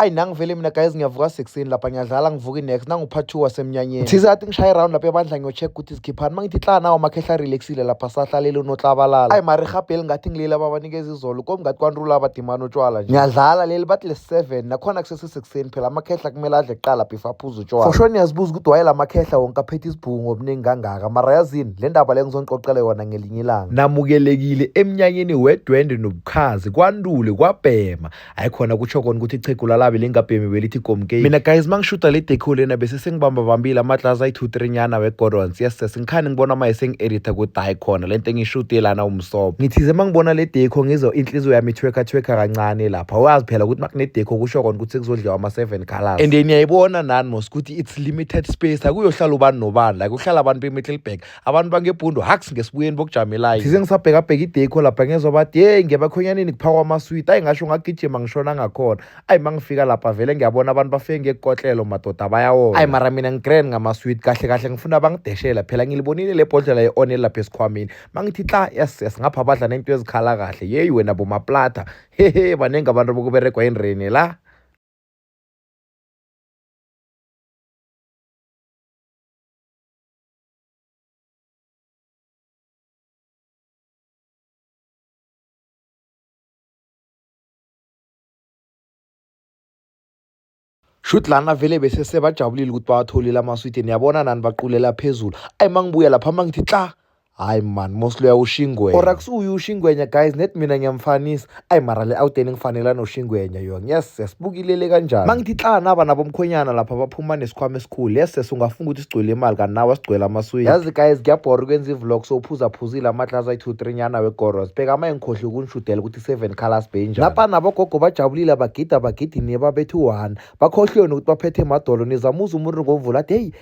ayi nangivele mina guys ngiyavuka sekuseni lapha ngiyadlala ngivuke next nangupart two wasemnyanyeni thize athi ngishaye round lapha ebandla ngiyocheck ukuthi zikhiphani uma ngithi hla nawo makhehla relaxile lapha sahlalele unoklabalala ayi mari rhabheli ngathi ngilile ababanikeza izolo komi ngathi kwanrula abadimani utshwala nje ngiyadlala leli bathi le-seven nakhona kusesesekuseni phela amakhehla kumele adle kuqala before aphuze utshwala for sure niyazibuza ukuthi waye la makhehla wonke aphethe isibhungu ngobuningi kangaka mara yazini le ndaba le ngizonixoxela yona ngelinye ilanga namukelekile emnyanyeni wedwende nobukhazi kwandule kwabhema hayi khona kutsho kona ukuthi ichegu lalabi lingabhemi belithi gomkei mina guys mangishuta le deco lena bese sengibamba bambile amatlaza ayi-two three nyana we-godons yes yes ngikhani ngibona maye sengi-editha kuthi hayi khona le nto engiyishute lana umsobo ngithize mangibona le deco ngizwa inhliziyo yami ithweka thweka kancane lapha wazi phela ukuthi makunedeco kusho kona ukuthi sekuzodliwa ama-seven colors and niyayibona nani mos ukuthi it's limited space akuyohlala ubani nobani like uhlala abantu bemiddleburg abantu bangebhundu haks ngesibuyeni bokujamelayo thize ngisabhekabheka idekho lapha ngezwa bathi yeyi ngiyabakhonyanini kuphakwa amaswiti ayi ngasho ngagijima ngishona ngakhona ayi ma ngifika lapha vele ngiyabona abantu bafike ngekukotlelo madoda bayawona ayi mara mina ngigrand ngamaswiti kahle kahle ngifuna bangideshela phela ngilibonile le bhodlela ye-onel lapha esikhwamini ma ngithi xa yes yes ngapha badla nento ezikhala kahle yeyi wena bomaplata hehe baningi abantu bokuberegwa enreni la shuthi lana vele bese sebajabulile ukuthi bawatholile amaswidi niyabona nani baqulela phezulu ayi uma ngibuya lapha uma ngithi xa hayi mani mosloya ushingwenya orax uyu ushingwenya guys net mina ngiyamfanisa ayi mara le awuteni ngifanela noshingwenya yona yes yes bukilele kanjani mangithi xa naba nabomkhwenyana lapha baphuma nesikhwama esikhulu yes yes ungafunga ukuthi sigcwele imali kanti nawe sigcwele amaswidi yazi guys kuyabhora ukwenza ivlog so uphuzaphuzile amadlaza ayi-two three nyana wegoros bheka ama engikhohle ukunishudela ukuthi seven colors benjani lapha nabogogo bajabulile bagida bagidini babethi one bakhohlweni ukuthi baphethe emadolo nizamuza umuntu ngomvula athi heyi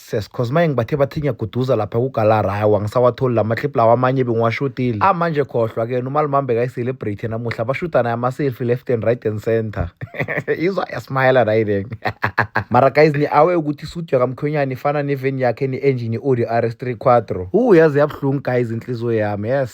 Ses cause maye ngibathe bathi ngiyaguduza lapha kugalara hayi wangisawatholi la maclip lawa amanye bengiwashutile ah manje khohlwa ke umalimambe kayi-celebrity namuhla bashuta naye ama-selfie left and right and center izwa yasmayela nayileng mara guys ni-awe ukuthi isudu yakamkhwenyana ifana neveni yakhe ne-engine i-audi r s 3 quadro u yaze yabuhlungu guys inhliziyo yami yes